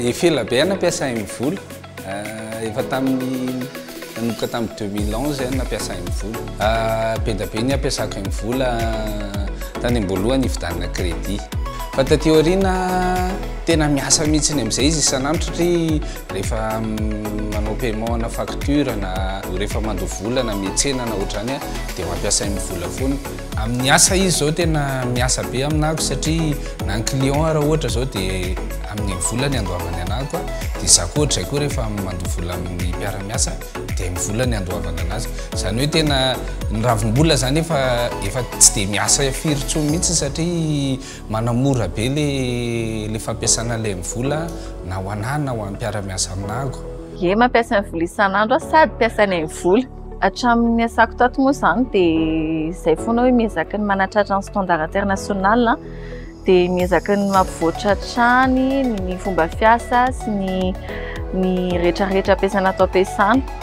Efela be aho nampiasa M-Vola. Eh, efa tamin'ny nanomboka tamin'ny 2011 aho nampiasa M-Vola. Eh, be dia be ny ampiasako M-Vola eh, tany am-boalohany hividanana crédit. Fa taty aoriana tena miasa mihitsy ny amin'izay izy isan'andro satria Rehefa manao paiement ana facture na rehefa mandoa vola na mihetsena na ohatrany a dia mampiasa iny vola foana. Amin'ny asa izy izao tena miasa be aminako satria na ny client raha ohatra izao dia amin'iny vola ny andoavany anako a dia izaho koa ohatr'izay koa rehefa mandoa vola amin'ny mpiara-miasa dia ny vola ny andoavany anazy. Izany hoe tena ny ravim-bola izany efa efa tsy dia miasa firy intsony mihitsy satria. Manamora be le fampiasana le ny vola na ho anah na ho an'ny mpiara-miasa aminago. Ye mampiasa ny vola isan'andro aho sady mpiasanay ny vola. Hatramin'ny niasako tato moa izany dia izay foana hoe miezaka ny manatratra ny standard international dia miezaka ny mampivoatra hatrany ny fomba fiasa sy ny ny retraretra ampiasana ato ampiasana.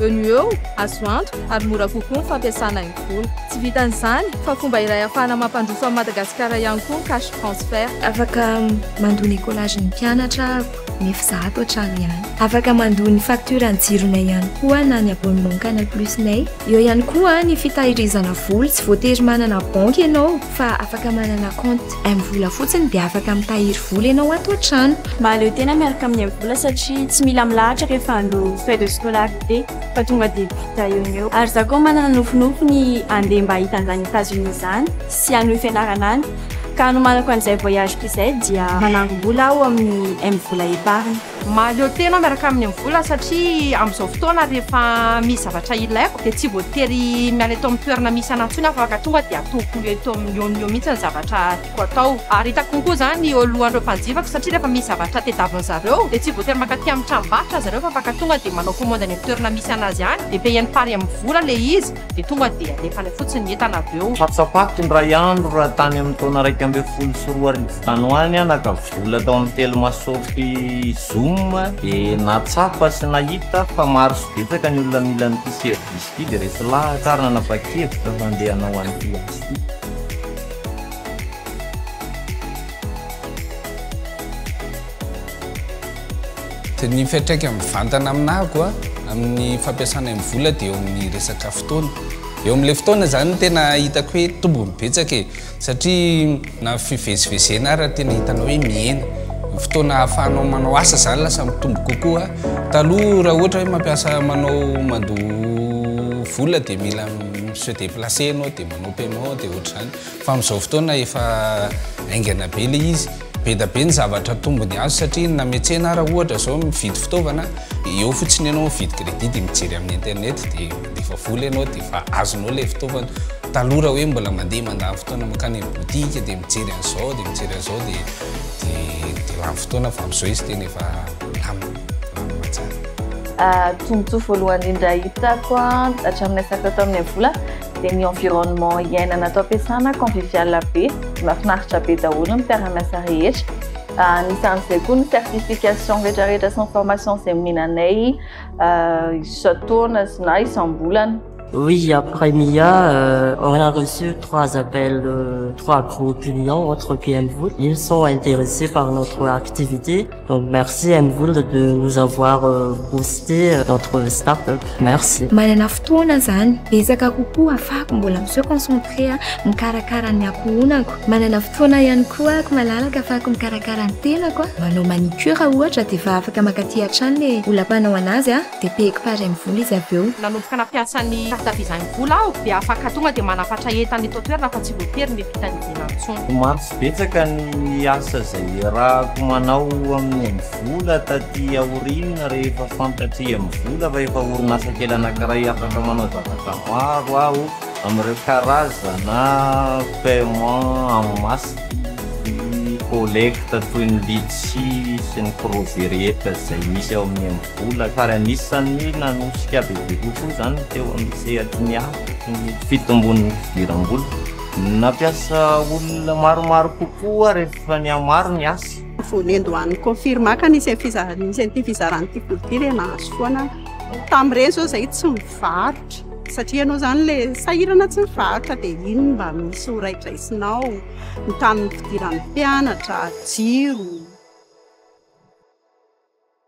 Eo no eo, azo antoka ary mora kokoa ny fampiasana ny vola. Tsy vitan'izany, fa fomba iray ahafahana mampandroso an'i Madagasikara ihany koa ny cash transfert. Afaka mandoa ny écolage ny mpianatra nef za ato an-trano ihany. Afaka mandoa ny facture ny jironay ihany koa na ny abonnement canal plus nay. Eo ihany koa ny fitahirizana vola, tsy voatery manana banky ianao. fa afaka manana compte M-vola fotsiny dia afaka mitahiry vola ianao ato an-trano. Mahaleo tena miaraka amin'ny M-vola satria tsy mila milahatra rehefa handro frais de scolarité fa tonga dia vita eo no eo. Ary izaho koa manana nofinofy ny handeha mba hahita an'izany Etats Unis izany sy hanohy fianarana any ka hanomanako an'izay voyage-ko izay dia manangom-bola aho amin'ny M-vola épargne. Mahaleo tena aho miaraka amin'ny amin'ny vola satria amin'izao fotoana rehefa misy zavatra ilaiko dia tsy voatery miala eto amin'ny toerana misy anà intsony aho fa afaka tonga dia ataoko eto amin'ny eo no eo mihitsy ny zavatra tiako atao ary hitako kokoa izany eo alohan'ireo mpanjifako satria rehefa misy zavatra tadiavin'ny zareo dia tsy voatery mankaty amin'ny tranombarotra zareo fa afaka tonga dia manao komandy any amin'ny toerana misy an'azy any dia payeny pari amin'ny vola ilay izy. dia tonga dia alefany fotsiny ny entana avy eo. Hatsapato indray andro raha tany amin'ny taona iraika ambin'ny folo sy roa arivo tany ho any aho naka vola tao amin'ny telo masopy Zoom dia nahatsapa sy nahita fa maro sy betsaka ny olona mila an'ity service ity dia resy lahatra aho ary nanapa-kevitra fa handeha hanao an'ity asa ity. Dia ny fiantraikany mivantana aminà ko a, amin'ny fampiasanay ny vola dia eo amin'ny resaka fotoana. Eo amin'ilay fotoana izany no tena hitako hoe tombony betsaka e. Satria na fivezivezena ara tena hitanao hoe mihena. Ny fotoana ahafahanao manao asa izany lasa mitombo kokoa. Taloha raha ohatra hoe mampiasa manao mandoa vola dia mila mi-se déplacer ianao dia manao paiement dia ohatr'izany. Fa amin'izao fotoana efa haingana be ilay izy, beda be ny zavatra tombony azo satria name tsena ara ohatra zao mividy fitaovana eo fotsiny ianao mividy credit de mijery amin'ny internet de mandefa vola ianao de efa azonao ilay fitaovana, taloha raha hoe mbola mandeha mandany fotoana mankany amin'ny boutique de mijery an'izao de mijery an'izao de de lany fotoana fa amin'izao izy tena efa milamina, milamina tsara. Tombotsoa voalohany indrindra hitako hatramin'ilay sachet tamin'ilay vola dia ny environnement iainana ato am-piasana convivial be, mahafinaritra be daholo ny mpiara-miasa rehetra. Ah, anisan'izay koa ny certification rehetrarehetra sy ny formation izay omenanay ah, isan-taona sy na isam-bolana. Oui, après Mia, euh, on a reçu trois appels, euh, trois gros clients entre PM Ils sont intéressés par notre activité. Merci à vous de nous avoir boosté notre start-up. Merci. Manana fotoana zany betsaka kokoa afahako mbola mi se concentrer mikarakara ny ankohonako. Manana fotoana ihany koa ako malalaka afahako mikarakara ny tenako, manao manicure ohatra dia efa afaka mankaty hatrany le olam-panao anazy. Depehiko fara ny vola izy avy eo. Nanomboka nampiasa ny carte visa ny vola aho dia afaka tonga dia manafatra entana eto an-toerana fa tsy voatery ny fitadidiana intsony. Omaly betsaka ny asa izay iarahako manao amin'ny amin'ny vola taty aoriana rehefa fantatry amin'ny vola fa efa orinasa kely anankiray afaka manao zavatra maro aho amin'ireo karazana paiement en masse sy collecte toy ny litchi sy ny crozet rehetra izay misy ao amin'ny Olona tary anisan'ny nanosika bebe kokoa izany teo amin'ny sehatry ny asa ny fitombon'ny fidiram-bola. Nampiasa olona maromaro kokoa rehefa nihamaro ny asa. Vao niandohan'ny Confirma ka nisy an'ity fizarana ity vola ity dia nahazo foana aho. Tamin'ireny izao izahay tsy mivarotra satria ianao izany ilay sahirana tsy mivarotra dia iny no mba misy ho raidraisinao. Ny tamin'ny fidiran'ny mpianatra, jiro.